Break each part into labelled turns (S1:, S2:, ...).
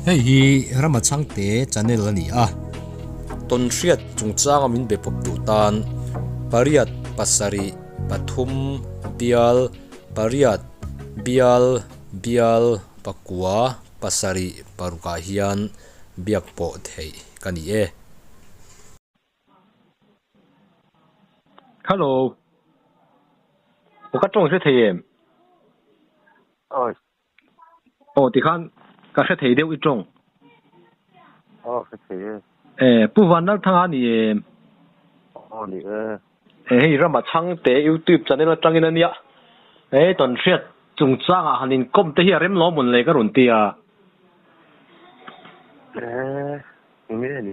S1: Hei hi Rama Changte channel a ni a. Tonhriat chungchanga min be pawp duh tan pariat pasarih pathum bial pariat bial bial pakua pasarih parukah hian biak pawh theih ka ni e.
S2: Hello. Ka tawng hre thei em?
S3: Oi. Oh,
S2: ti khan ka hre thei deuh i tawng.
S3: Oh, hre thei e. Eh, Pu
S2: Van Lal Thang a ni em?
S3: Oh, ni e. Eh, hei
S2: rama chhang te YouTube channel atangin a nia. Eh, tawn hriat chung chang ah han in kawm te hi a rem lo mun leh ka rawn ti a. Eh,
S3: nge ni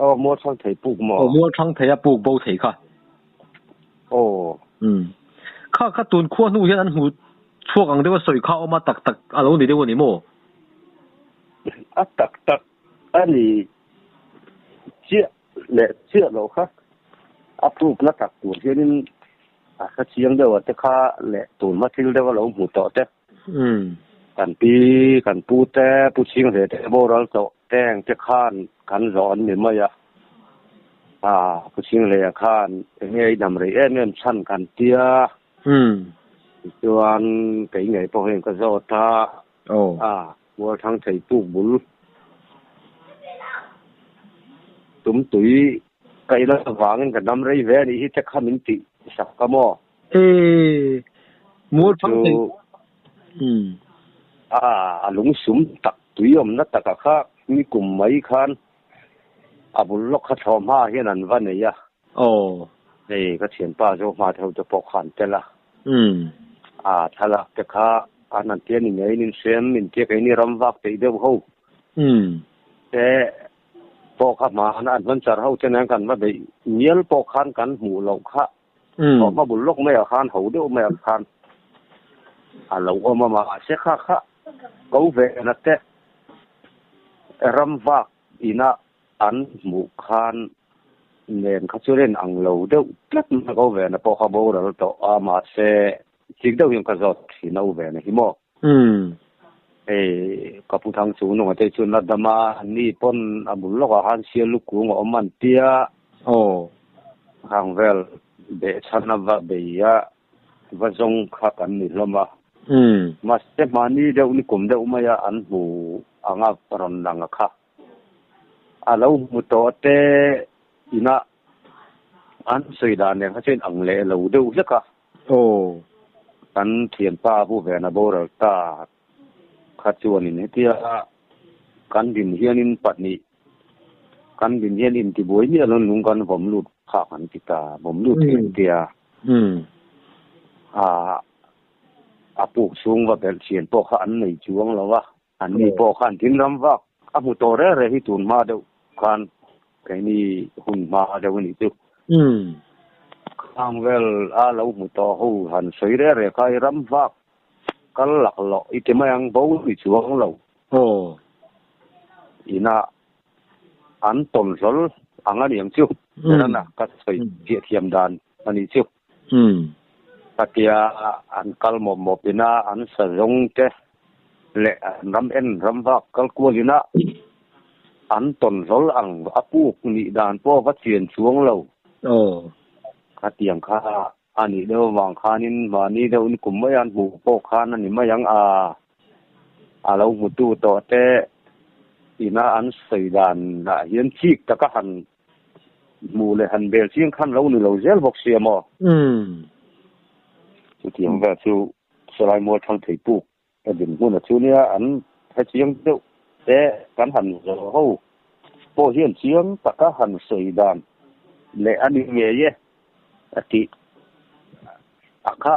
S3: Aw, Mualthang thei puk maw? Aw, Mualthang thei a puk bo thei kha.
S2: Aw. Umm. Kha kha tun khua hnu hian an hmu chhuak ang deuha sawi kha awma tak tak a lo ni deuh a ni maw? A tak tak a ni chiah leh chiah lo kha. A puk na tak tur hianin
S3: a hla chiang deuhate kha leh tun hma thil deuh a lo hmu tawh te. Kan pi, kan pu te, Pu Ching Hre te, Bo Ral Tawh te ang te khan kan zawh an ni mai a. Aa, Pu Ching Hre ah khan enge a inam rei em em chhan kan ti a. Tichuan kei ngei pawh hian ka zawt a. Aa, Mualthang Thei Puk Bul
S2: Tum Tui, ka i lam avangin ka nam rei ve a nih hi te kha min tih sak ka maw? Eeii mual phang theih umm. A a lung sum tak tui awmna taka kha mi kum mai khan a bul lawk kha thlawh hmaah hian an va nei a. Aww. Hei ka thianpa Zohma te ho te pawh kha an tel a. Umm. A thlalak te kha an han ti a ni ngei nin fiam inti a kei ni ram vak theih deuh ho. Umm. Te pawh kha hmah an hman char ho te nen kan va beih mial pawh khan kan hmuh loh kha. Saw hma bul lawk maiah khan ho deuh maiah khan a lo awm a mahse kha kha Kovena te ram vak inah an hmuh khan nen kha chu rin ang lo deuh tlat mai Kovena pawh kha boral tawh a mahse Chik deuh hian
S3: ka zawt thin a u ve na hi maw? Umm. Hei ka pu thang chung nung atei chuan a dam a, an ni pawn a bul lawkah khan Sia Lu Kung a awm an tia. Aw. Khang vel beh chhan a va bei a, va zawng kha kan ni hlawm a. Umm. Mahse mahni deuh ni kum deuh mai a an hmu ang a rawn lang a kha. A lo hmu tawh te inah an sawi dan reng kha chuan ang leh lo deuh hlek a. Aw, kan thianpa bu vena boral ta kha chuanin hetia kan din hianin pahnih kan din hian intibuai miah loin lung kan vawm lut phak an ti ta, vawm lut hi an tia. A puk chhung va belh thian pawh kha an nei chuang lo a. Anni pawh khan thingram vak a hmu tawh reh reh hi tun hma deuh khan keini hun hma deuh a nih chu. Khang vel a lo hmu tawh ho han sawi reh reh kha i ram vak kal lak loh i ti mai ang bo ni chuang lo. Aw. Inah an tawn hlawl ang a ni ang chu. Beran a ka sawi chiah thiam dan a nih chu. Hum. Ka ti a, an kal mawp mawp in a, an sa zawng te leh an ram en ram vak kal kual in a, an tawn zawl ang, a puk nih dan pawh va chian chuang lo. Aw. Ka tiang kha, a nih deuh avang khan in mahni deuh in kum mai an hmu pawh khan a ni mai ang a, a lo hmutu tawh te ina an sawi dan ah hian chik taka han Hmuh leh han bel chiang khan lo ni lo zel bawk sia maw? Chutiang vel chu Salai Mual Thang Thei Puk a din hmun a chu nia an hre chiang deuh te kan han zawh ho pawh hian chiang taka han sawi dan leh a ni ngei e a tih a kha.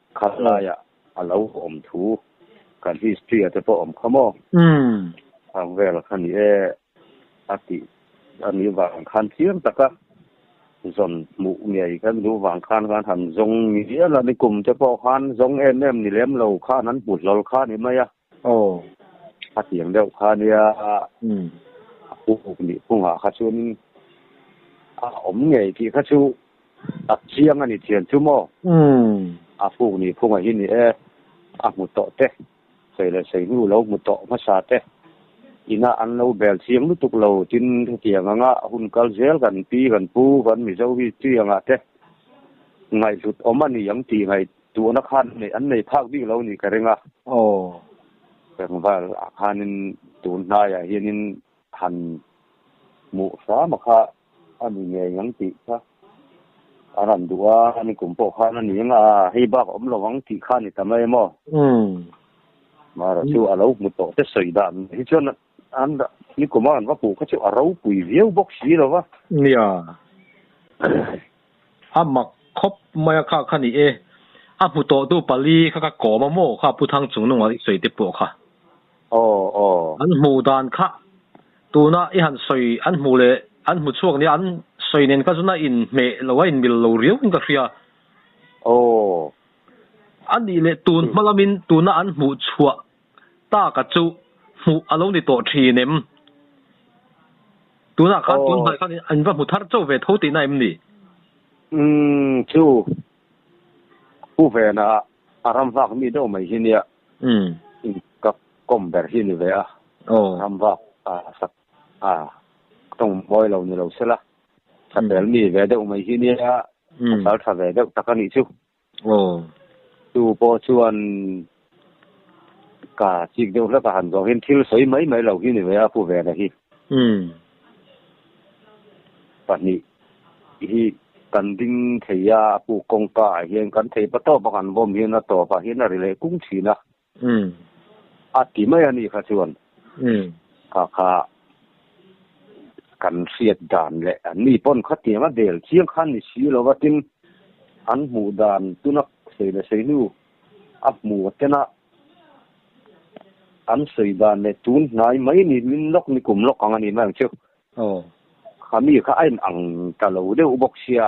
S3: Khat laia a lo awm thu kan history-a te pawh awm kha maw? Chhang vel kha ni e a ti a nih vang khan chiang taka zawn hmuh ngei kan duh vang khan khan han zawng mial a ni. Kum te pawh khan zawng em em ni lem lo khan an hmu hlawl kha a ni mai a. Aw, a tiang deuh kha nia, a puk nih hmungah kha chuan a awm ngei tih kha chu tak chiang a ni thian chu maw? A puk nih hmungah hi ni e, a hmu tawh teh, sei leh sei hnu lo hmu tawh hmasa teh, inah an lo bel chiang lutuk lo, tin hetiang anga hun kal zel kan pi kan pu kan Mizo hi tui angah teh ngaihhlut awm a ni ang tih ngaih Tuna khan an nei phak bik lo ni ka ring a. Aw. Pengval ah khanin tun hnai ah hianin han hmuh hram a kha a ni ngei ngang tih kha
S2: a rawn duh a, ni kum pawh khan a ni eng a, hei bak a awm lo ang tih kha a ni ta mai emaw? Umm. Mara chu a lo hmu tawh te sawi dan hi chuan. An dah nikawma an va puh kha chu a ropui viau bawk si lo va. Nia. A mak khawp mai a kha kha ni e. A hmu tawh tu pali kha ka kawm a maw kha Pu Thang Chungnung ah i sawi te pawh kha. Aw aw. An hmu dan kha tuna i han sawi an hmu leh an hmu chhuak nia an sawi nen kha chuan a in hmeh lo a in mil lo riau in ka hria. Aw. Anih leh tun hma lam in tuna an hmuh chhuah taka chu hmuh a lo ni tawh thin em? Tunah khan tunhnai khan in va hmu thar chauh ve tho tihna em ni? Umm, chu Pu Vena a a ram vak mi deuh mai hi nia in ka kawm ber hi ni ve a, ram vak a sak a tawng mawi lo ni lo se la, chhapel mi ve deuh mai hi nia, a sal tha ve deuh tak a nih chu. Aw.
S3: Tu pawh chuan ka chik deuh hlek a, han zawng hian thil sawi mai mai lo hi ni ve a Pu Vela hi. Umm. Pahnih hi kan ding thei a, a pu kawngka ah hian kan thei ba tawp a, kan vawm hian a tawp ah hian a ri leh kung thin a. A ti mai a ni kha chuan kha kha kan hriat dan leh an ni pawn kha tiang a bel chiang khan ni si lo va tin an hmuh dan tuna sei leh sei hnu a hmu a ten a an sawi dan leh tun hnai mai ni min lawk ni kum lawk ang a ni mai ang chu kha mi kha a in ang ta lo deuh bawk sia.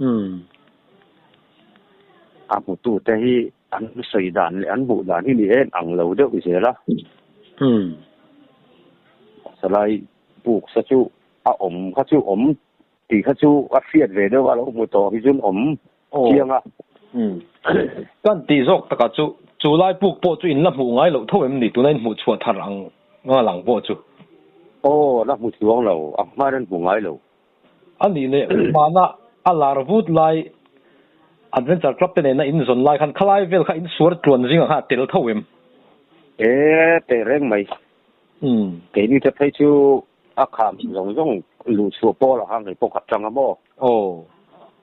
S2: Umm. A hmutu te hi an sawi dan leh an buh dan hi ni en ang lo deuh zel a. Umm. Salai buksa chu a awm kha chu awm tih kha chu a hriat ve deuh a lo hmu tawh hi chuan awm chiang a. Umm. Kan tih zawk takah chu chu lai buk pawh chu in la hmuh ngai loh tho em ni? Tuna in hmuh chhuah thar ang ngalang pawh chu.
S3: Aw, la hmu chuang lo. A hman an hmu ngai loh. A nih leh mahna
S2: a lar vut lai Adventure Club te nen a in zawn lai khan khalai vel kha in suar tluan zing ang khan a tel tho em? E teh reng mai. Keini te phei chu a kham zawng zawng luh chhuah pawl ang khan kei
S3: pawh khat tang a maw? Aw.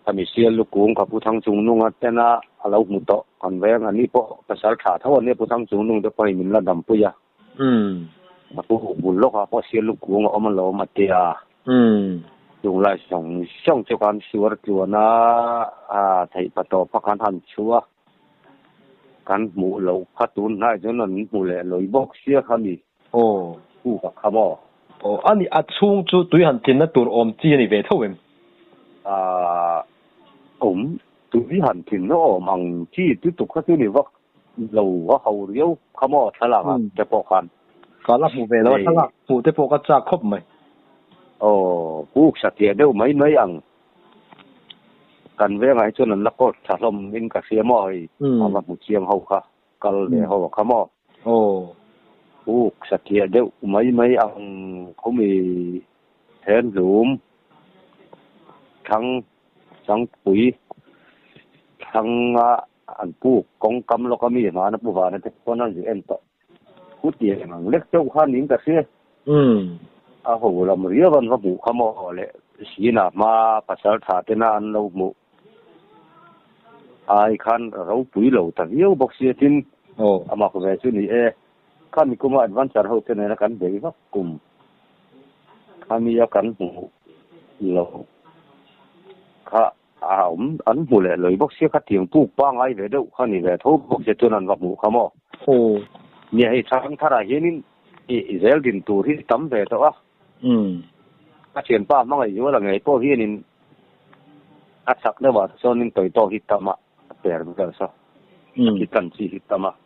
S3: Khami sial lu kung kha Pu Thangchungnung a ten a, a lo hmu tawh kan veng. Ani pawh pasal tha tho ania Pu Thangchungnung te pawh hei min la dam pui a. Umm. Ka pu huk bul lawk a, Pawsia luk kung a awm a lawm a tia. Umm. Chung lai zawng zawng chu kan suar tluan a, aa theih pa tawh pha kan han chhu a,
S2: kan hmuh loh kha tun hnai chuan an hmu leh lawi bawk sia kha ni. Aw. Pu ka kha maw? Aw a ni, a chhung chu tui han tlinna tur awm chi a ni ve tho em? Aa awm,
S3: tui han tlinna awm ang chi, tu tuk kha chu ni vak. Lo a ho riau kha maw thlalak ah te pawh khan.
S2: Ka la hmu ve lo a thlalak hmuh te pawh ka chak khawp mai. Aww pu uksa tleh
S3: deuh mai mai ang. Kan vengah hi chuan an la kawt tha hlawm in ka hria maw hei a va hmu chiang ho kha kal ve ho a kha maw. Aww. Pu uksa tleh deuh mai mai ang khawmi Thenlum thlang Sangpui thlang ah. An pu kawng kam lawk a mi hmana pu vana te pawn an zi en tawh. Pu Tiang ang lek chauh khan in ka hria. A ho lam riau an va hmuh kha maw le Sina hma pasal tha te na an lo hmuh ai khan ropui lo ta viau bawk sia tin a mak ve chu ni e. Kha Mikuma Advancer ho te nena kan bei vak kum kha mi a kan hmuh loh kha. A awm an hmu leh lawi bawk sia, khatiang puk pangai ve deuh kha ni ve tho bawk sia chuan an va hmuh kha maw. Aw. Nia hei thlang thar ah hianin i zel din tur hi tam ve tawh a. Umm. Ka thianpa hmangaih zual a ngei pawh hianin a chak deuh ah sawnin tawitawk hi tam a, a per ber saw. Umm. Ka tlan chi hi tam a.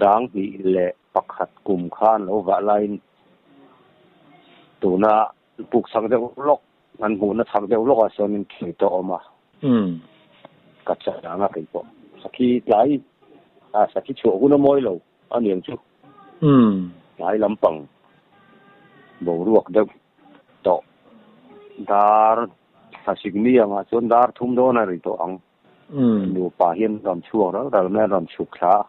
S3: Sang hnih leh pakhat kum kha an lo vah laiin tuna puk chak deuh lawk, an hmuhna chak deuh lawkah sawnin thlei tawh awm a, ka chah ang a kei pawh. Sakhi tlai, a sakhi chhuah hun a mawi lo a niang chu tlai lampang boruak deuh tawh dar thla sik mi angah chuan dar thum dawn a ri tawh ang. Nupa hian rawn chhuak ral ral mai a rawn chhuk thla a.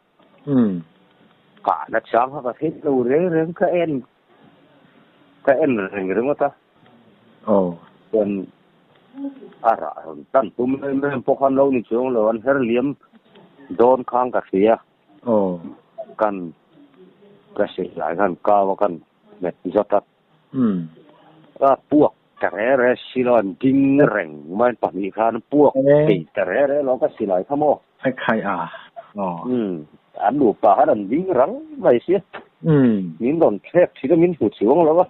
S3: Ka an a chang hak a theih lo reng reng ka en ka en reng ringawt a. Chuan a rah rawn tan tum em em pawh kha an lo ni chuang lo an her liam dawn khang ka hria a. Kan ka hrilh lai khan kau a kan hmet zawt a. Umm, ka puak ta re re si lo, an ding reng mai pahnih khan puak thei ta re re lo ka si lai kha maw? Hei khai a, aw. Umm, an nupa khan an ding rang mai si. Umm. Min rawn thlep thin a, min hmu chuang lo a,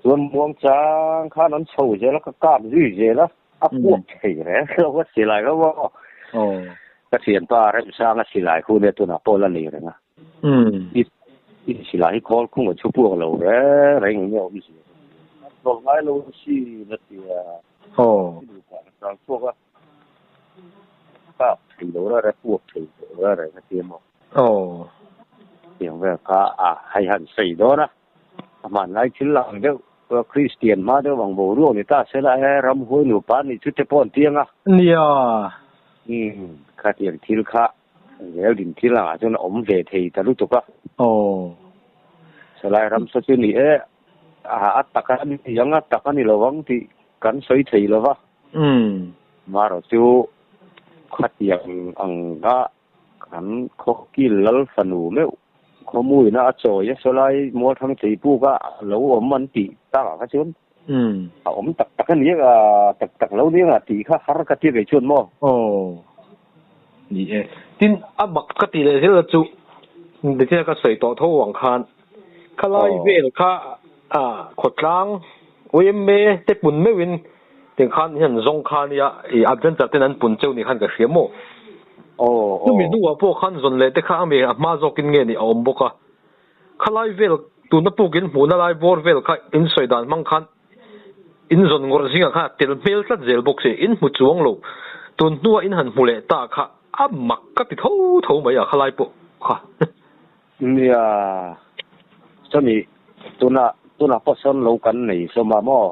S3: chuan Muangchang khan an chho zel a, ka kak zui zel a, a puak thei re re lo ka si lai kha maw? Aw. Pathian pa Remsanga silai hun e tunah Paula lei reng a. I si lah, hi khawl khung a chhu puak lo reng reng i nge-awh i si? A tawlh ngai lo a si, na ti a. Hi nu kha a sang chhuak a, a kap thei lo reng reng, puak thei lo reng reng a ti a maw? Hetiang vel kha a hai han sawi dawn a, a hmanlai thil lang deuh, Kristian hma deuh ang boruak ni ta se lah e, ramhuai nupa nih chu te pawh an ti ang a. Nia. Kha tiang thil kha. Zel din thil angah chuan a awm ve thei ta lutuk a. Aw. Salai ramsa chu ni e, a tak a ni ang a, tak a ni lo ang tih kan sawi thei lo va. Umm. Marawh chu khatiang ang a, kan khawkil lal fanu meuh. Khawmuina a chawi a, Salai Mualthang cheipuka a lo awm an tih takah kha chuan. Umm. A awm tak tak a nia tak tak lo nia tih kha har ka ti ve chuan maw? Aw. Ni e.
S2: Tin, a mak ka ti leh zel a chuh. Nithiana ka sawi tawh tho ang khan khalai vel kha ah khawtlang oymme te pun meuh in tin khan i han zawng kha nia i adventure ten an pun cheu nih khan ka hria maw? Aw aw. Chumi hnungah pawh khan zawn leh te kha a mi a hma zawk in nge ni a awm bawk a. Khalai vel tuna puk in hmuhna lai bawr vel kha in sawi dan hmang khan in zawn ngawrh zing ah khan a tel hmel tlat zel bawk si, in hmu chuang lo tun hnua in han hmu leh ta kha a mak ka ti tho tho mai a khalai pawh kha. Nia,
S3: chumi tuna tuna pawh sawn lo kan nei hlawm a maw?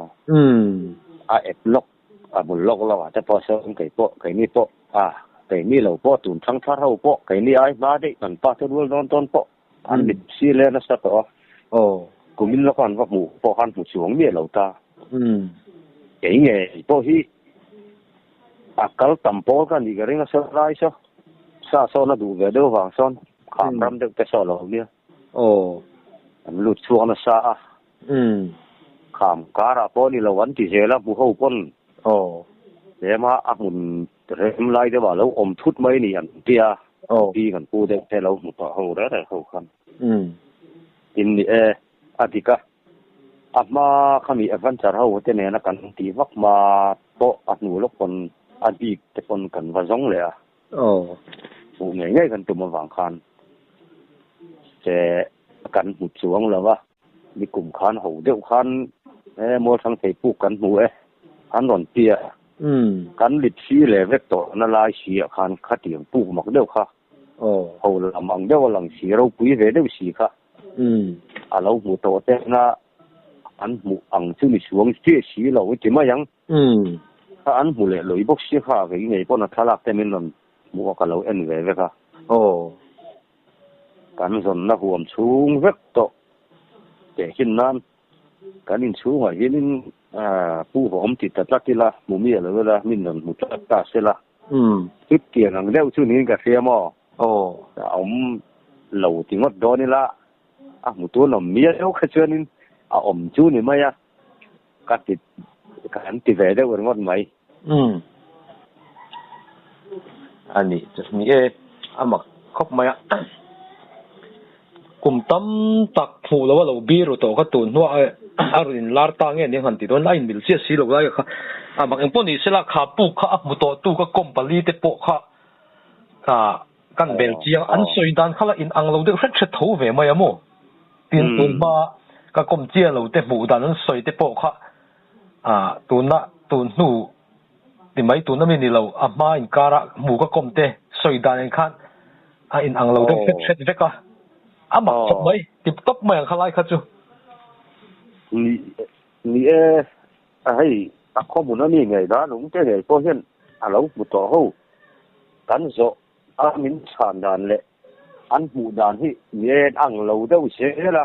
S3: A ep lawk a bul lawk lawk ah te pawh sawn kei pawh kei ni pawh a kei mi lo pawh tun thlang thar ho pawh kei ni ai hma deuh kan pa te rual dawn tawn pawh An mit si le nasa tawh a. Aw. Kumin lawka an va hmuh pawh khan hmu chhuang miah lo ta. Umm. Kei nge i pawh hi a kal tam pawl kha ni ka ring a saw lai saw. Sa sawna duh ve deuh vang sawn kham ram deuh te sawh lo nia. Aw. An lut chhuak nasa a. Umm. Kham karah pawh ni lo an ti zel a, Muho pawn Aw. Ema a hmun rem lai deuhah lo awm thut mai a ni an ti a, Aw. An pu deuh te lo hmu ta ho rere ho khan. Umm. Tin ni e, a dik a. A hma khami adventure ho te nena kan ti vak hma pawh a hnu lawk pawn a bik te pawn kan va zawng leh a. Aw. Hmuh ngei ngei kan tum avang khan se kan hmu chuang lo a. Ni kum khan ho deuh khan he Mualthang theipuk kan hmu e, kan rawn ti a, kan lipsi leh vek tawhna lai siah khan khatiang puk mak deuh kha ho lam ang deuh a lang si, ropui ve deuh si kha a lo hmu tawh tel a, an hmuh ang chu ni suang chiah si lo i ti mai ang. Kha an hmu leh lawi bawk si kha, vei ngei pawn a thlalak te min rawn hmuh a ka lo en ve vek a. Kan zawnna huam chhung vek tawh teh chin nan kan inchhungah hianin Pu Vawmti ta tlat ila, hmu mi a lo ela, min rawn hmu tlat ta se la, chutiang ang deuh chu niin ka hria maw? A awm lo ti ngawt dawn ila, a hmu tûn awm miau kha chuanin a awm chu ni mai a, ka ti, kan ti ve deuh ringawt mai. Umm.
S2: A nih che hnih e, a mak khawp mai a. Kum tam tak hmuh loh a lo bir ru tawh kha tun hnuah a rawn in lar ta nge ning han ti dawn a inbel chiah si lo lai kha a mak engpawh ni se la kha puk kha a hmu tawh tu ka company te pawh kha ah kan bel chiang an sawi dan kha la in ang lo deuh hret hret tho ve mai a maw tin tun hma ka kawm chian lo te hmuh dan an sawi te pawh kha Ah, tuna tun hnu ti mai tun ami ni lo, a hma inkar ah hmu ka kawm te sawi dan in khan a in ang lo deuh hret hret vek a, a mak chawp mai, tip top mai ang kha lai kha chu. Ni
S3: ni e, a hei a khawmun ami ngei dan lung te ngei pawh hian a lo hmu tawh ho, kan zawh a min chhan dan leh an hmuh dan hi ni e an ang lo deuh zel a,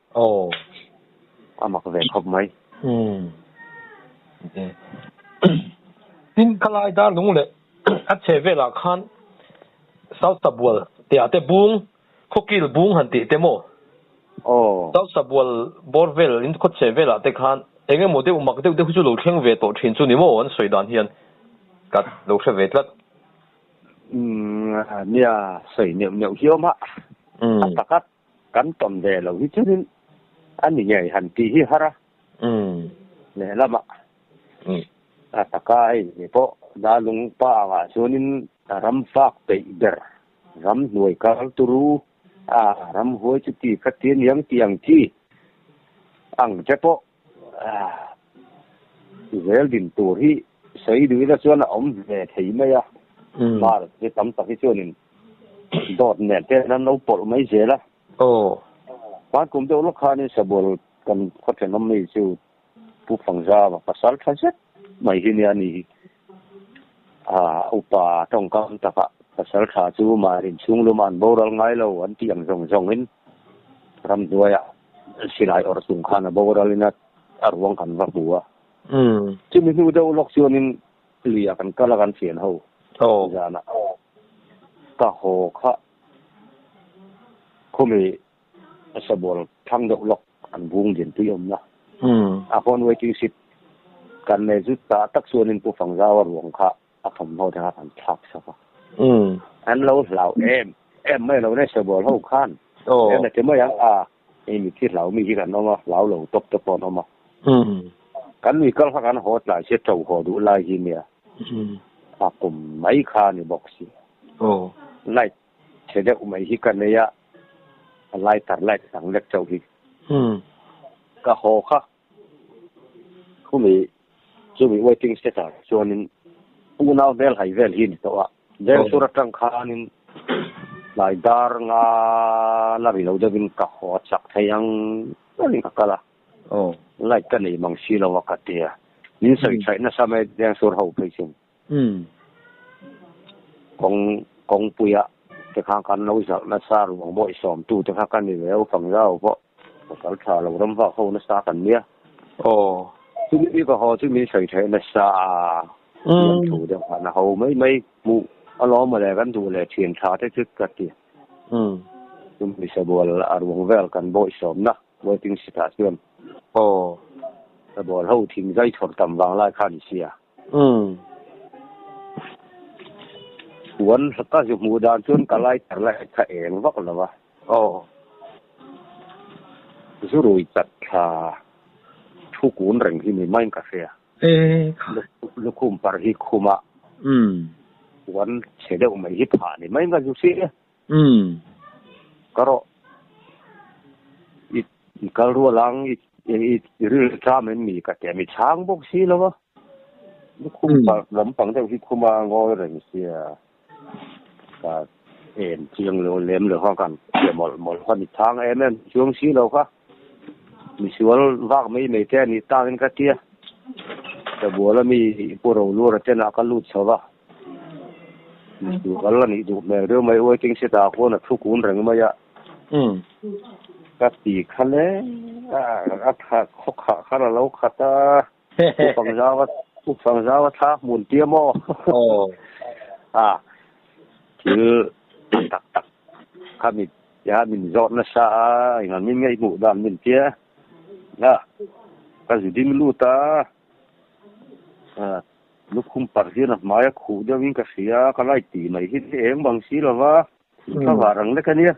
S3: Aw, a mak ve khawp mai. Umm,
S2: ti e. Tin, Khalai Darlung leh a chhe velah khan Salsa bual tih ah te bung, khawkil bung han tih te maw? Aw. Salsa bual bawr vel in khaw chhe velah te khan eng emaw deuh mak deuh deuh chu lo thleng ve tawh thin chu ni maw? An sawi dan hian ka lo hre ve tlat. Umm,
S3: nia, sawi neuh neuh hi awm a, a tak a. Kan ton ve lo hi chuan in a ni ngei han ti hi har a, lehlamah a taka a inni pawh Dalung pa angah chuan in ram fak peih ber, ram hnuai kal tur u, aa ram huai chuti kha ti aniang tih ang chi ang che pawh Zel din tur hi Saiduina chuan a awm ve thei mai a, mar mi tam tak hi chuanin dawt nen ten an lo pawlh mai zel a. Hmaan kum deuh lawk khanin Sabual kan khawthianawm mi chu Pu Phangzama pasal tha zet mai hi nia ni hi. A upa tawngkam takah pasal tha chu mah rin chhunglum an boral ngai lo an tih ang zawng zawngin ramhnuaia silai awrh chung khan a boralin a ruang kan va hmu a. Chumi hnu deuh lawk chuanin luiah kan kal a kan fian ho zanah ka haw kha khawmi. A sa bual thlang deuh lawk an bung din tui awmna a hawn waiting sheet kan nei zut ta tak chuanin Pu Fangzaua ruang kha a thawmhnaw dang ah kan thlak chhuak a, an lo hlau em em mai lo nei sa bual ho khan em le ti mai ang a, hei mitthi hlau mi hi kan awm a, hlau lo tawp te pawh an awm a, kan nui kal kha kan haw tlai si a, to haw duh lai hi nia, a kum mai kha a ni bawk si, light Che deuh mai hi ka nei a, a lai tar laik sang lek chauh hi. Ka haw kha. Khumi chumi waiting shed ah chuanin unau hmel hai vel hi ni tawh a, Jengsur atang khanin tlai dar nga la ri lo deuhin ka haw a chak thei ang chuanin ka kal a, Light ka nei mang si lo a ka ti a, min sawi chhaih nasa mai Jengsur ho phei chin. Umm. Kawng, kawngpuia te kha kan lo zalh nasa ruang bawi sawm tu te kha ka ni leh opang zau pawh ka kal tha lo ram vak ho nasa kan nia. Aw, chumi ka haw chumi sawi theih nasa a, thiam thu deuh khan a ho mai mai, hmuh alawm ale kan duh leh thiam tha te chu ka ti. Umm. Chu Misabual a ruang vel kan bawi sawm na waiting sitah chuan. Aw, Sabual ho thing zai chhawr tam vang lai kha ni sia. Umm. Puan ka zu hmuh dan chuan ka lighter la he tha eng vak lo a. Aw. Zu rui chat thla. Thu kun reng hi ni maiin ka hria. E kha. Lukhum par hi khum a. Umm. Puan chhe deuh mai hi phah ni mai nga zu si. Umm, ka rawh. I kal rual ang, i rilru tlam em ni ka ti a, mi chhang bawk si lo a. Lukhum park lampang deuh hi khuma ngawi reng sia, ka en chiang lo lem lo kha ka hria mawlh mawlh kha mi chhang em em chuang si lo kha. Misual vak mai mai te a nih tangin ka ti a, Sabuala mi Pu Rolu reten ah ka lut chho va. Mistu kal a nih duh hmel deuh mai waiting shed ah khuan a thu kun reng mai a, ka ti kha le a khawkhah khan a lo khat a, U Fangzau U Fangzau a thla hmun tia maw? a thil tak tak tak kha min tia min zawt nasa a, engah min ngaihmuh dan min tia a, ka zi ding lut a. Lukhum parh hian a hmai a khuh deuh in ka hria a, ka laih tih mai hi eng bang si lo va, thil tha vah rang lek a nia.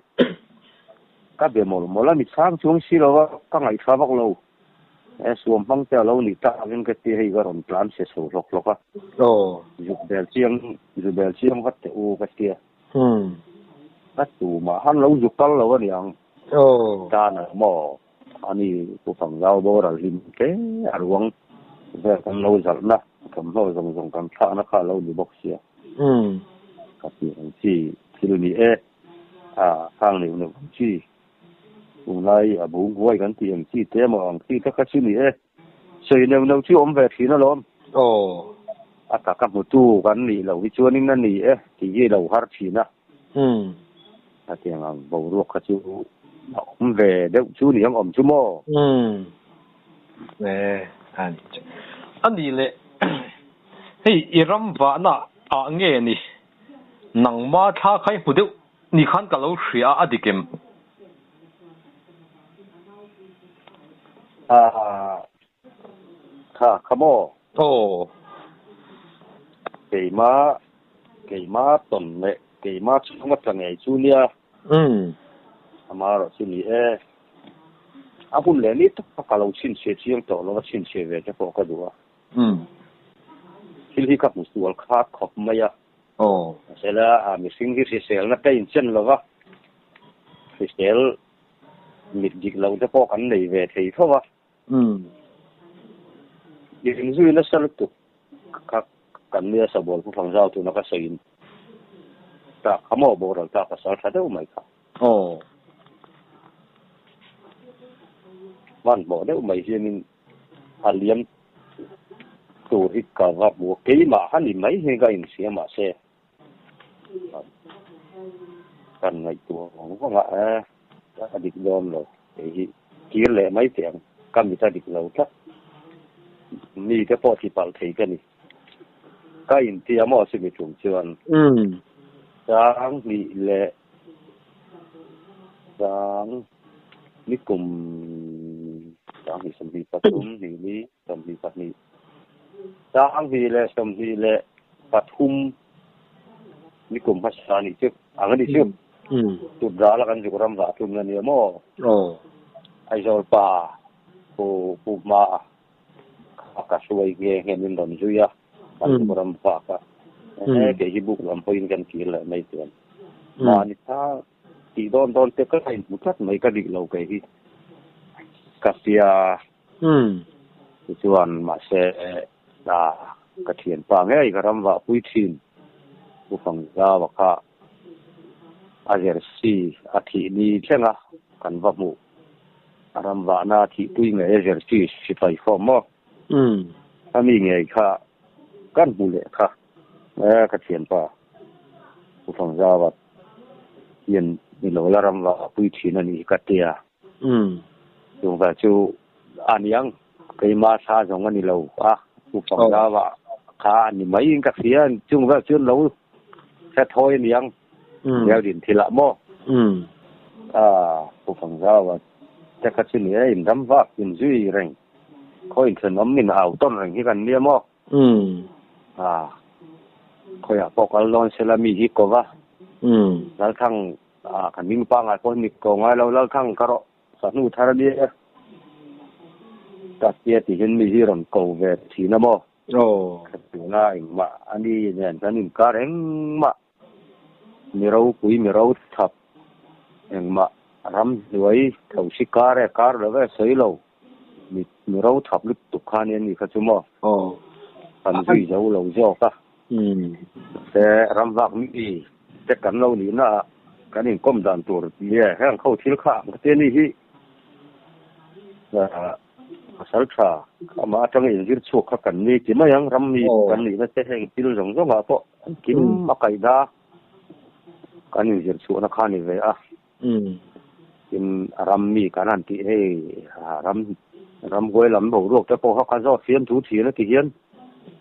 S3: Ka be mawlh mawlh a, mi chhang chuang si lo va, ka ngaihthla vak lo. E, suam hmang te a lo nih tak in ka ti a, hei ka rawn tlan se chho hlawk hlawk a. Aw. Zuk ber chiang, zu ber chiang vat teh u ka ti a. Ka tumah han lo zu kal lo a nih ang. Aw. Tan ang maw? Ani Pu Pangzau bo ral hlim hle a ruang vel kan lo zalhna thawmhnaw zawng zawng kan thlahna kha lo ni bawk sia ka ti ang chi thil ni e
S2: a khang neuh neuh ang chi tunglai a bu huai kan ti ang chi te emaw ang chi kha ka hre ni e. Sawi neuh neuh chu awm ve thin alawm. Aw, a tak a hmutu kan nih loh hi chuanin a ni e tih hi a lo har thin a. Umm. Hetiang ang boruak kha chu a awm ve deuh chu ni ang awm chu maw? Umm. Eeh, a ni che. A nih leh, hei i ram vahna ah nge ni nangma thla khai hmu deuh? Ni khan ka lo hria a, a dik em? Kha, kha maw? Aw. Keimah, keimah a tawn leh keimah chhung a tla ngei chu nia. Umm. Ama erawh chu ni e. A hun leh ni tak ka lo chhinchhiah chiang tawh lo a, chhinchhiah ve te pawh ka duh a. Umm. Thil hi ka hmu sual khat khawp mai a. Aw. Sela a mihring hi hriselna ka inchen lo va, hrisel mit dik loh te pawh kan nei ve thei tho va. Umm. Inzui nasa
S3: lutuk kha kan nia Sabawl pu Phangzau tuna ka sawi in tak kha maw boral tak ka sal tha deuh mai kha. Aw. Hmanhmawh deuh mai hian in A liam tur hi ka va hmu a, keimah a ni mai hi ka infiam mahse kan ngaihtuah vang vang a, a ka dik dawn lo, kei hi kir leh mai che ang, ka mit a dik lo tlat, mite pawh tli palh thei ka ni. Ka inti a maw si mi tum chuan Sanghnih leh Sang ni kum Sanghnih sawmhnih pathum hnih ni sawmhnih pahnih Sanghnih leh sawmhnih leh pathum ni kum hmasa a nih chu ang a ni chu tut ral a kan zuk ram vah tlun a ni a maw Aizawl pa pu Pu Hmaa. ka hruai nge ngen in rawn zui a, kan luh ram fak a, he kei hi buk lam pawhin kan kir leh mai chuan mahni kha tih dawn dawn te ka in hmu tlat mai ka rih lo kei hi ka hria ti chuan mahse hna ka thian pa ngei ka ram vah pui thin pu fangzau a kha a zersi a thih ni thlenga kan va hmuh Ram vahna thihpui ngei a zirti si fai khawm maw? A mi ngei kha kan hmu leh kha eh ka thianpa Pu Fangzawat hian ni lo la ram vah pui thin a nih hi ka tia. Chung vel chu a niang keima sa zawng a ni lo a Pu Fangzawat kha a ni mai in ka fian chung vel chu an lo Hre thawi a ni ang Biakdin thil ah maw? Pu Fangzau a tek a, chumi a indam vak in zui reng. Khaw in thlen awm min au tawn reng hi kan nia maw? Khawi ah pawh kal dawn se la mi hi ko va. Lalthang ah kan ding pangai pawh hi mit ko ngai lo, Lalthang ka rawh sa hnu thar a nia. Ka hria ti hin mi hi rawn ko ve thin a maw? Thlati nga engmah a ni nen kan inkar engmah, mi ropui mi rochhap engmah ram hnuai tho si kar e kar lo e sawi lo, mi rochhap lutuk kha nen ni kha chu maw kan zui zo lo zawk a, mahse ram vak mi te kan lo nih na ah kan inkawm dan tur ni e, heng kho thil kha ang ka ti a ni hi. Khawsal tha, amah atanga inzir chhuak kha kan ni ti mai ang, ram mi kan nihna te heng thil zawng zawngah pawh an kim a kaih da, kan inzir chhuahna kha
S2: a ni ve a, tin a ram mi kan han tih hei, ram ram huai lam boruak te pawh kha zawt fiam thu thin a ti hian,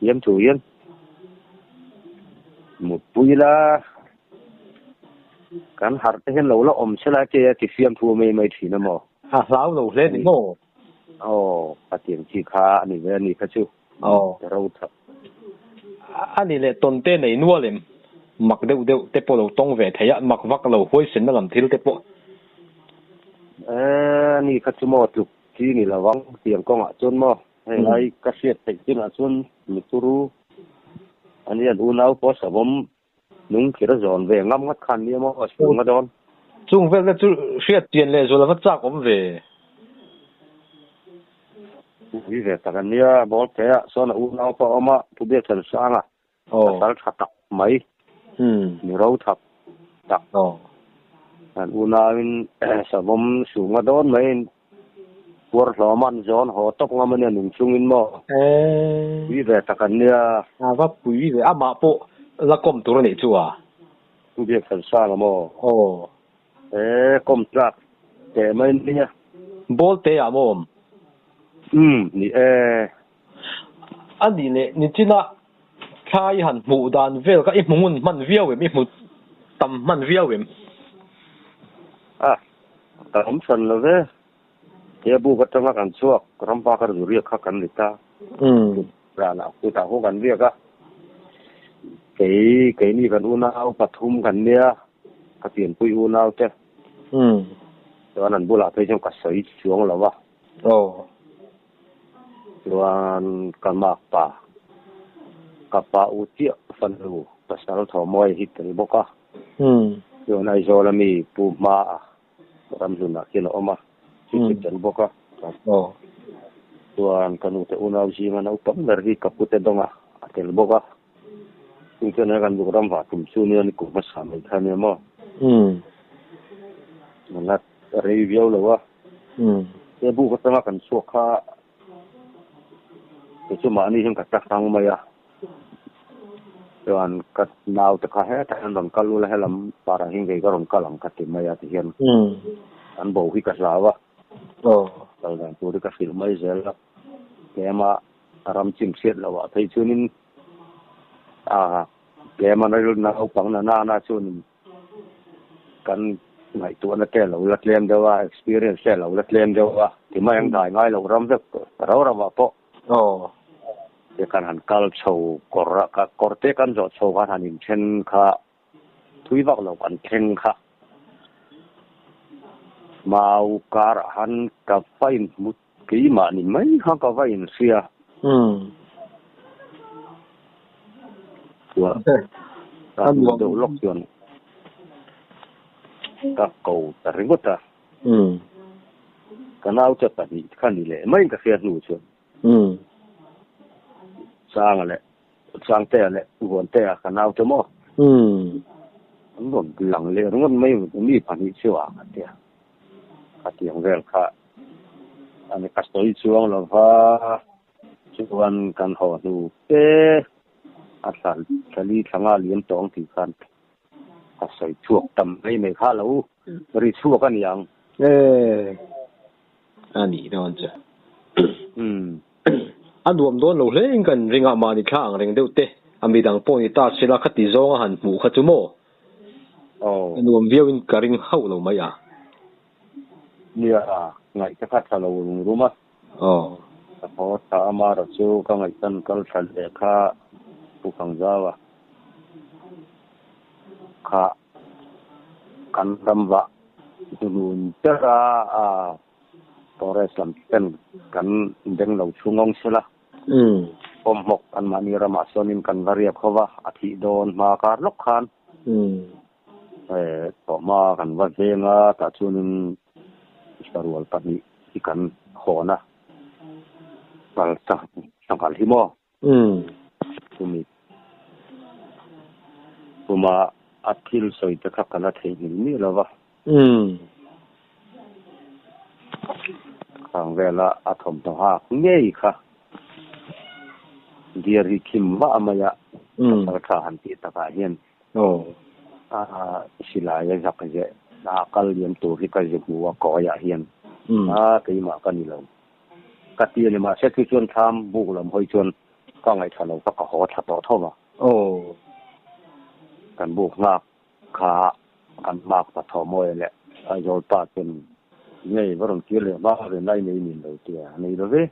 S2: fiam thu hian mutpui ila. Kan harh te hian lo la awm se lai che a ti fiam thu a mai mai thin a maw? A hlau lo hle ni maw? Aw, a tiang
S3: chi kha a ni ve a ni kha chu. Aw. Ka ro tha. A ni
S2: leh tawn te nei nual em? Mak deuh deuh te pawh lo tawng ve thei a, mak vak lo huaisenna lam thil te pawh. A ni kha chu maw, tluk
S3: chi ni lo vang tiang kawng ah chuan maw? Hei lai ka hriat theih chin ah chuan mi turu a ni a, unau pawh a savawm. Nung thir a zawn ve ngam ngat
S2: khan nia maw? A chhung nga dawn. Chung vel te chu hriat pian leh zua lova chak awm ve. Ui ve tak a nia. Bawlhte ah sawn a unau pawh a awm a,
S3: Pu Biachansanga. Aw. A sal tha tak mai. Umm. Ni ro thap tak. Aw. An unau in sawm awm suh nga dawn mai. Kuar hlawma an zawn haw tawk ngam ania
S2: nung chungin maw? Pui ve tak an nia. Ava pui ve a, mah pawh la kawm tur a nih chu a? Biakchansanga
S3: maw? Aw. He kawm tlak teh mai nia.
S2: Ball te ah maw awm?
S3: Um, ni e. A nih leh, Nitin-a
S2: Thlai han hmuh dan vel kha i hmu ngun hman viau em? I hmu tam hman viau em? A kan awm hran lo ve. Heabuk atanga kan chhuak ram pakar zuriak kha kan ni ta. Kut zanah
S3: kutah hu kan biak a. Kei keini kan unau pathum kan nia, ka pianpui unau te. Chuan an bulah phei chuan ka sawi chuang lo a. Aw. Chuan ka mak pa, ka pa u chiah fanu Pasal Thawmawia hi tel bawk a, chuan Aizawl a mi pu hma a ramhlunah khian a awm a, chu chu tel bawk a. Chuan ka nute unau zinga naupang ber hi ka pu te dawngah a tel bawk a. Chu chuan he kan rawh ram vah tum chu nia ni kum hmasa mai kha nia maw? Umm. Nana ka rei viau lo a. Umm. He buh ka changa kan chhuak kha kei chu mahni hian ka ta hrang mai a. Chuan ka naute kha hetah hian rawn kal ula he lam parah hian kei ka rawn kal ang ka ti mai a ti hian. Umm. Kan bo hi ka hlau a. Aw. Kal dan tur hi ka hrilh mai zel a tlem a. A ram chim hriat lo ah phei chuan in ah tlem a rilru naupang na nana chuan in kan ngaihtuah na te lo la tlem deuh a experience te lo la tlem deuh a ti mai ang dai ngai lo ram vek rau rau ah pawh aw te kan han kal chho kawr ah kawr te kan zawh chho khan han in then kha Thui vak lo kan thleng kha mau kar ah han ka va in hmu keimah ni mai kha ka va in hria chua ka hmu deuh lawk chuan ka ko ta ringawt a ka nau che pahnih kha ni leh mai ka hria hnu chuan changa leh Changtea leh Vuantea ka naute maw? An rawn bilang ler ngun mai u mi pahnih chu a ka ti a. Ka ti ang vel kha a ni ka sawi chuang lo va,
S2: chuan kan haw hnu te a thlan thali thlanga liam tawh ang tih khan ka sawi chhuak tam mai mai kha lo, ri chhuak a ni ang. Ee, a nih dawn che. A nuam dawn lo hle in ka inring a, mahni thla ang reng deuh te a mi dang pawh ni ta sila kha ti zawnga han hmuh kha chu maw? A nuam viau in
S3: ka ring hauh lo mai a. Nia, ngaih te kha tha lo rum rum a.
S2: Ka haw thla a mara chu ka ngaih tan kal thla leh kha pu Khangzau a khah. Kan tam vah Dunun Tera a Torres lam ten kan beng lo thu ngawng se la, Pawmhmawk anmahni ramah sawnin kan va riak ho va, a thih dawn hma kar lawk khan thawh hma kan va veng a, tah chuanin Mister Rual pahnih hi kan hawn a, Hmalsa sanghalh hi maw? Umm.
S3: Chumi. Puma a thil sawi te kha ka la theihnghilh miah lo va. Umm. Khang vela a thawmhnaw hak ngei kha dear hi khim vah mai a, ka kal tha han tih takah hian a silai a zak zeh. Hna kal liam tur hi ka zihmuh a kawiah hian, Hna keimah ka ni lo. Ka ti a ni mahse chu chuan thlam buk lam hawi chuan ka ngaihthla lo ka ka haw thla tawh tho va. Aw. Kan buk nghak kha kan mak ta Thawmawi leh Zawlpa chuan ngei va rawn kir leh hma ve nai mai niin lo ti a, a nei love.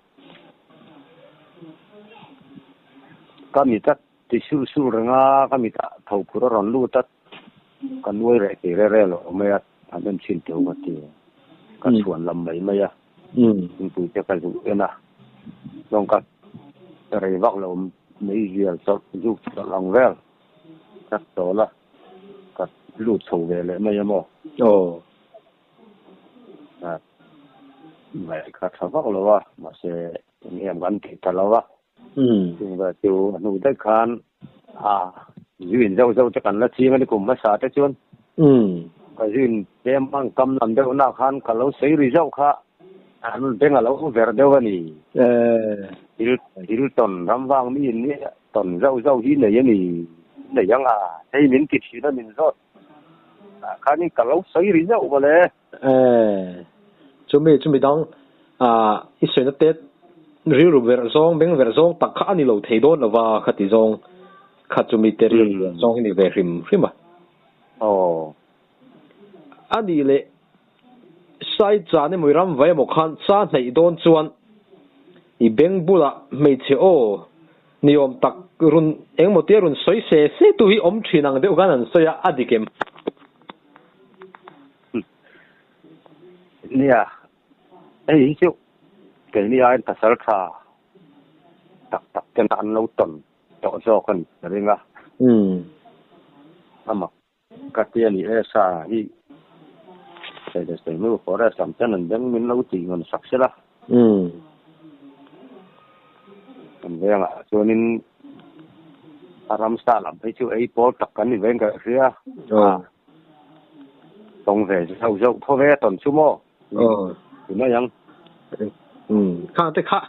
S3: Ka mi tlat ti sulh sulh reng a, ka mit ah tho phur a rawn lut a, ka nuai reh ti rel rel awm mai a, an en chin teuh ka ti. Ka chhuan lam mai mai a. Eng? Titui te ka zulh en a, chuan ka rei vak lo mai zial chawlh zuk chawlh ang vel. Ka chawl a, ka lut chho ve leh mai emaw? Aw. Ka ngaih ka tha vak lo a, mahse eng
S2: em kan tih ta lo a. Chungvêl chu a hnu daih khân a zûin zau zau te kan la chîng a ni kum hmasa te chuan ka zûin tlêm a, an kam lam deuhnah khân ka lo sawi ri zauh kha an beng a lo ver deuh a ni. Thil tawn ram vang mi in nia tawn zauh zauh hi nei a ni, nei ang a, hei min ti thin a min zawt, tah khânin ka lo sawi ri zauh mawle. E, chu mi chu midang a i suihna tet rilru ber zawng beng ber zawng tak kha a ni lo thei dawn lo va kha ti zawng kha chu mite rilru ber zawng hi ni ve hrim hrim a. Aw. A nih leh, Sai Chan emaw i Ramvai emaw khan sa hnaih dawn chuan i beng bulah hmeichhe aw, Ni awm tak run engmaw tia run sawi se se tu hi awm thin ang deuh khan an sawi a, a dik em?
S3: Nia, hei hi chu keini aiin thasar tha tak tak tena an lo tawn tawh zawk a ni ring a. Umm. Ama. Ka ti a ni e, sa hi Shailesh te hnu forest lam ten an beng min lo tih ngun sak sela. Umm. Kan vengah chuanin a ram sa lam hi chu ei pawl tak kan ni veng ka hria. Aw.
S2: Tawng ve zauh zauh thaw ve a tawn chu maw? Aw, ti mai ang. Umm, khang te kha,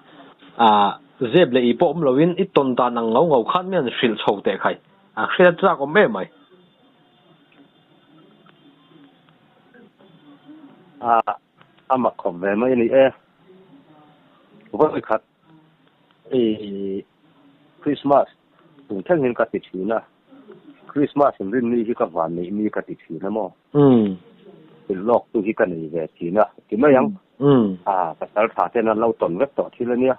S2: ah, zep leh i pawh awm loin i tawn dan ang ngau ngau khan mian hrilh chho teh khai. A hriat zak awm em mai. Ah, a mak khawp ve mai a ni e. Vawikhat, i Krismas tum thengin ka ti thin a. Christmas in rinni hi ka van neih mi ka ti thin a maw? Thil lawk tu hi ka nei ve thin a
S3: ti mai ang. Pasal tha ten an lo tawn vek tawh thil a nia.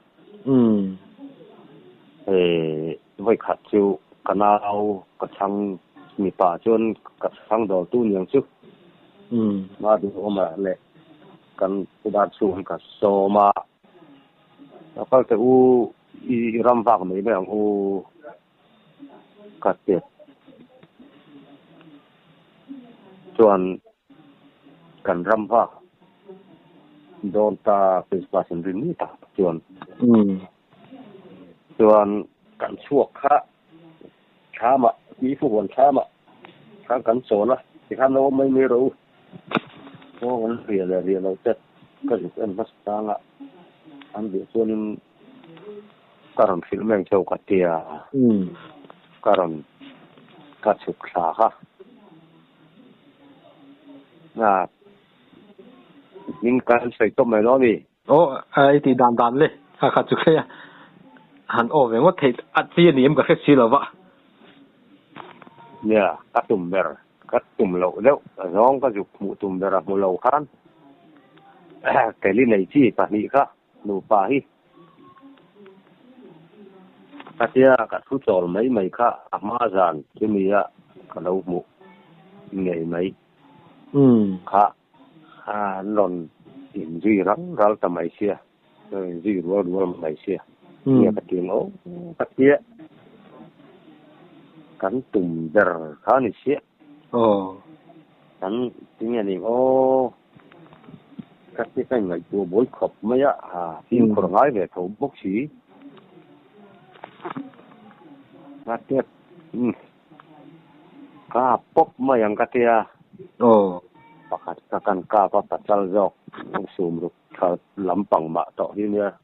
S3: He vawikhat chu ka nau ka chhang mipa chuan ka chhang dawr tu niang chu ma duhawm ah leh kan u dan chhung hi ka sawm a. Ka kal teh u i ram vak mai mai ang u. ka ti chuan kan ram ha dawn ta Christmas in rin mai ta chuan chuan kan chhuak kha thlam ah Mifu huan thlam ah khan kan chawl a tikhan lo awm mai mai rawh u kawng an riah leh
S2: riah lo te ka zut en hmasa chang a an beh chuan in Ka rawn hrilh meng chauh ka tia, ka rawn ka chhuk thla kha. Min kal sawi tawp mai lo a mi? Aw, i tih dan dan le. A kha chu khlei a, han aw ve ngawt theih a chi a ni em ka hre si lo va.
S3: Nia, ka tum ber, ka tum loh deuh zawng ka zuk hmuh tum ber a hmu lo khan, Kelly nei chi pahnih kha Nupa hi ka tia ka thu chawl mai mai kha a hma zan chu nia ka lo hmuh ngei mai kha an rawn in zui ral ral ta mai sia rawn in zui rual rual mai sia nia ka ti ngawh ka tia kan tum ber kha ni sia. Aw. Kan ti nge ning aw. Ka ti hmel ngaihtuah buai khawp mai a, ha, fi'n khawr ngai ve tho bawk si. Ka ti a, umm, kap pawp mai ang ka ti a. Aw. Pakhat ka kan kap a, ka chal zawk, sum ruk tha lampang mah tawh hi nia.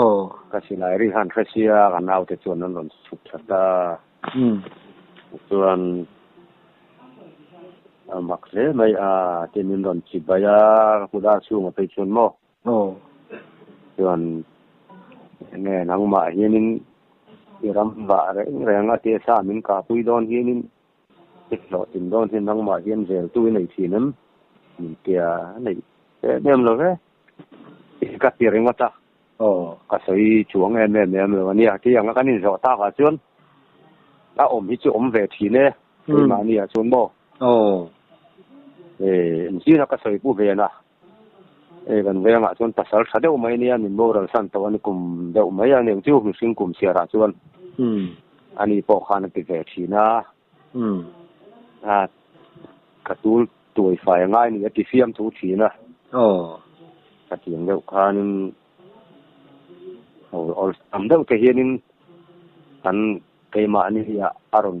S3: Aw. Ka silai ri han hre sia, ka naute chuan an rawn chhuk tha ta. Tichuan a mak hle mai a tia min rawn chibai a, ka kut a chhungah phei chuan maw. Aw. Chuan enge nangmah hianin i ram bah reng reng a tisa min kahpui dawn hianin Dik hlawh tin dawn hi nangmah hian vel tu i nei thin em? Min tia a neih em em lo e. I ka ti ringawt a, aw ka sawi chuang em em em lo ania. Kei anga kan inzawh tak ah chuan a awm hi chu awm ve thin e, keimahni ah chuan maw? Aw ee, zing a ka sawi pu ve la. Hei kan vengah chuan pasal tha deuh mai nia min boral san tawh a ni kum deuh mai a ni chu mihring kum siarah chuan ani pawh khan a ti ve thin a, a ka tul tuai fai a ngai a ni a ti fiam thu thin a, ka tiang deuh khanin haw awlsam deuh te hianin kan keimah ni hi a rawn.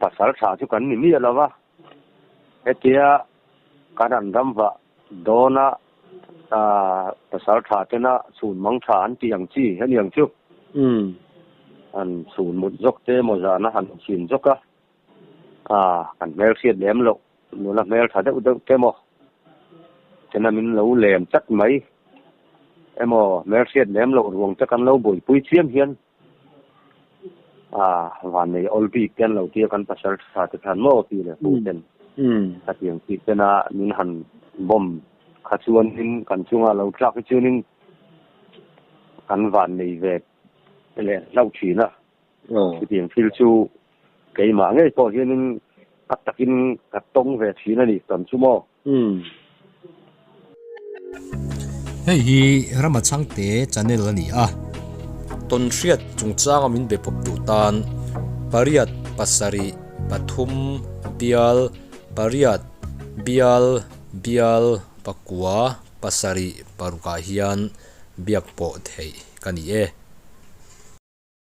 S3: Pasal thla chu kan ni miah lo a, hetia kan han ram vah dawn a, pasal thla tena chhun mang thla an tih ang chi a ni ang chu, han chhun mut zawk te emaw zan a han chin zawk a, kan hmelhriat lem loh nula hmel tha deuh deuh te maw tina min lo lem tlat mai emaw hmelhriat lem loh ruang te kan lo buaipui chiam hian, Aaa, vannei awl bik te an lo tir kan pasal tha te khan maw pi leh pu ten khatiang tih tena min han bawm kha chuanin kan chunga lo tlak hi chuanin kan vannei ve te leh hlauh thin a, khitiang thil chu keimah ngei pawh hianin tak takin ka tawng ve thin a nih tawn chu maw?
S1: Hei hi Ramachangte channel a ni a, tawnhriat chungchanga min be pawp duh tan pariat pasarih pathum bial pariat bial bial pakua pasarih parukah hian biak pawh theih ka ni e.